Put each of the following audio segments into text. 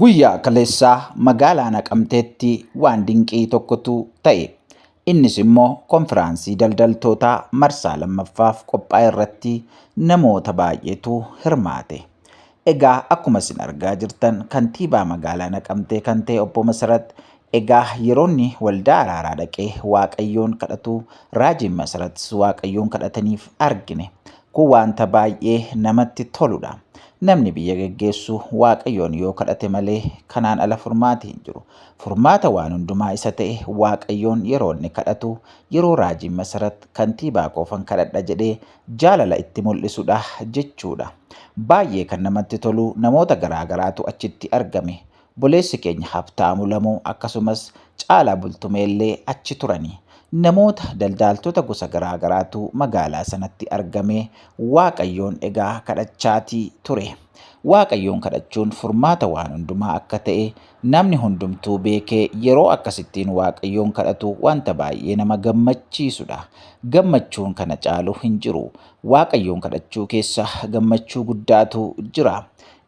Guyyaa kaleessaa magaalaa Naqamteetti waan dinqii tokkotu ta'e. Innis immoo konfiraansii daldaltootaa marsaa lammaffaaf qophaa'e irratti namoota baay'eetu hirmaate. Egaa akkuma isin argaa jirtan kantiibaa magaalaa Naqamtee kan ta'e obbo Masarat Egaa yeroonni waldaa araaraa dhaqee Waaqayyoon kadhatu raajiin Masaratis Waaqayyoon kadhataniif argine. Kun wanta baay'ee namatti toludha. Namni biyya geggeessu Waaqayyoon yoo kadhate malee kanaan ala furmaati hin jiru. Furmaata waan hundumaa isa ta'e Waaqayyoon yeroo inni kadhatu yeroo raajiin Masarat kantiibaa koofan kadhadha jedhee jaalala itti mul'isudha jechuudha. Baay'ee kan namatti tolu namoota garaa garaatu achitti argame. Obboleessi keenya Habtaamu Lamuu akkasumas Caalaa Bultumeellee achi turani. Namoota daldaaltota gosa garaa garaatu magaalaa sanatti argamee Waaqayyoon egaa kadhachaatii ture. Waaqayyoon kadhachuun furmaata waan hundumaa akka ta'e namni hundumtuu beekee yeroo akkasittiin Waaqayyoon kadhatu wanta baay'ee nama gammachiisudha. Gammachuun kana caalu hin jiru. Waaqayyoon kadhachuu keessa gammachuu guddaatu jira.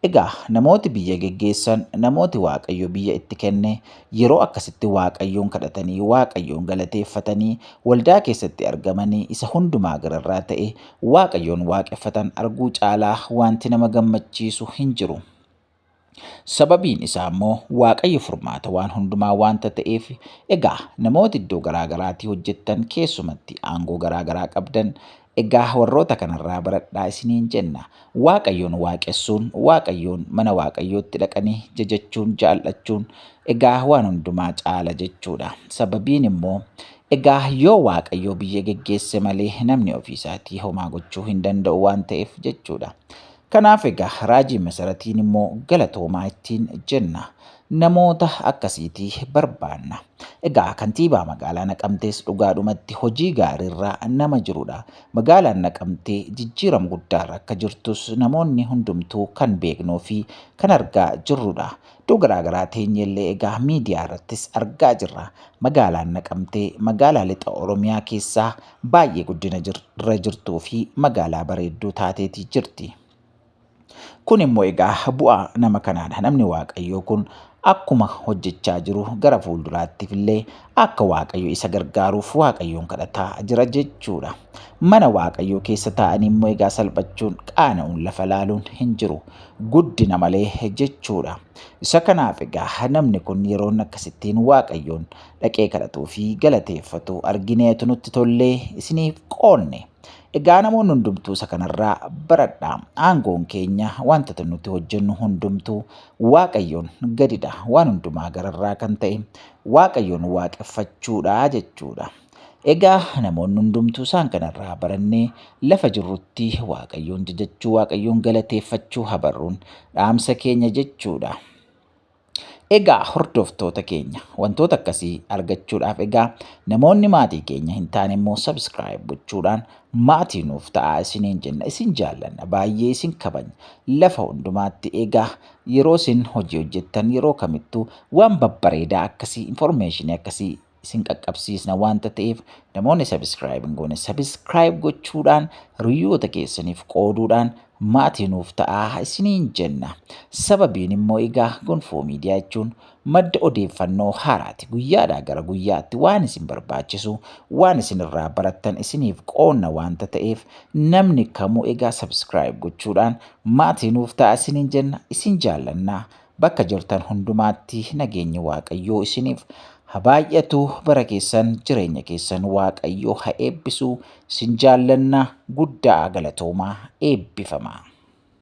Egaa namooti biyya geggeessan, namooti Waaqayyo biyya itti kenne, yeroo akkasitti Waaqayyoon kadhatanii, Waaqayyoon galateeffatanii, waldaa keessatti argamanii, isa hundumaa gararraa ta'e Waaqayyoon waaqeffatan arguu caalaa wanti nama gammachiisu hin jiru. Sababiin isaa immoo Waaqayyo furmaata waan hundumaa waanta ta'eef, egaa namooti iddoo garaa garaatii hojjettan, keessumatti aangoo garaa garaa qabdan, Egaa warroota kanarraa baradhaa isiniin jenna. Waaqayyoon waaqessuun, Waaqayyoon mana Waaqayyootti dhaqanii jajachuun, jaal'achuun egaa waan hundumaa caala jechuudha. Sababiin immoo egaa yoo Waaqayyoo biyya geggeesse malee namni ofiisaatii homaa gochuu hin danda'u waan ta'eef jechuudha. Kanaaf egaa raajii masaratiin immoo galatoomaa ittiin jenna. Namoota akkasiiti barbaanna. Egaa kantiibaa magaalaa Naqamtees dhugaadhumatti hojii gaariirra nama jirudha. Magaalaan Naqamtee jijjiiram guddaarra akka jirtus namoonni hundumtuu kan beeknuu fi kan argaa jirrudha. Iddoo garaagaraa teenyeellee egaa miidiyaa irrattis argaa jirra. Magaalaan Naqamtee magaalaa lixa Oromiyaa keessaa baay'ee guddina irra jirtuu fi magaalaa bareedduu taateeti jirti. Kun immoo egaa bu'aa nama kanaadha. Namni Waaqayyoo kun akkuma hojjechaa jiru gara fuulduraattiif illee akka Waaqayyo isa gargaaruuf Waaqayyoon kadhataa jira jechuudha. Mana Waaqayyoo keessa taa'anii immoo egaa salphachuun qaana'uun lafa laaluun hin jiru. Guddina malee jechuudha. Isa kanaaf egaa namni kun yeroon akkasittiin Waaqayyoon dhaqee kadhatuu fi galateeffatu argineetu nutti tollee isiniif qoonne. Egaa namoonni hundumtuu isa kanarraa baradha. Aangoon keenya wantoota nuti hojjennu hundumtuu Waaqayyoon gadidha. Waan hundumaa gararraa kan ta'e Waaqayyoon waaqeffachuudha jechuudha. Egaa namoonni hundumtuu isaan kanarraa barannee lafa jirrutti Waaqayyoon jajachuu, Waaqayyoon galateeffachuu habarruun dhaamsa keenya jechuudha. Egaa hordoftoota keenya wantoota akkasii argachuudhaaf egaa namoonni maatii keenya hin taane immoo subscribe gochuudhaan maatii nuuf ta'aa isiniin jenna isin jaallanna baay'ee isin kabanya lafa hundumaatti egaa yeroo isin hojii hojjettan yeroo kamittuu waan babbareedaa akkasii information akkasii isin qaqqabsiisna waanta ta'eef namoonni subscribe hin goone subscribe gochuudhaan hiriyoota keessaniif qooduudhaan maatii nuuf ta'aa isiniin jenna. Sababiin immoo egaa gonfoo miidiyaa jechuun madda odeeffannoo haaraati guyyaadhaa gara guyyaatti waan isin barbaachisu waan isin irraa barattan isiniif qoonna waanta ta'eef namni kamuu egaa subscribe gochuudhaan maatii nuuf ta'aa isiniin jenna isin jaallannaa. Bakka jirtan hundumaatti nageenyi Waaqayyoo isiniif ha baay'atu bara keessan jireenya keessan Waaqayyoo ha eebbisu sin jaallanna guddaa galatoomaa eebbifamaa.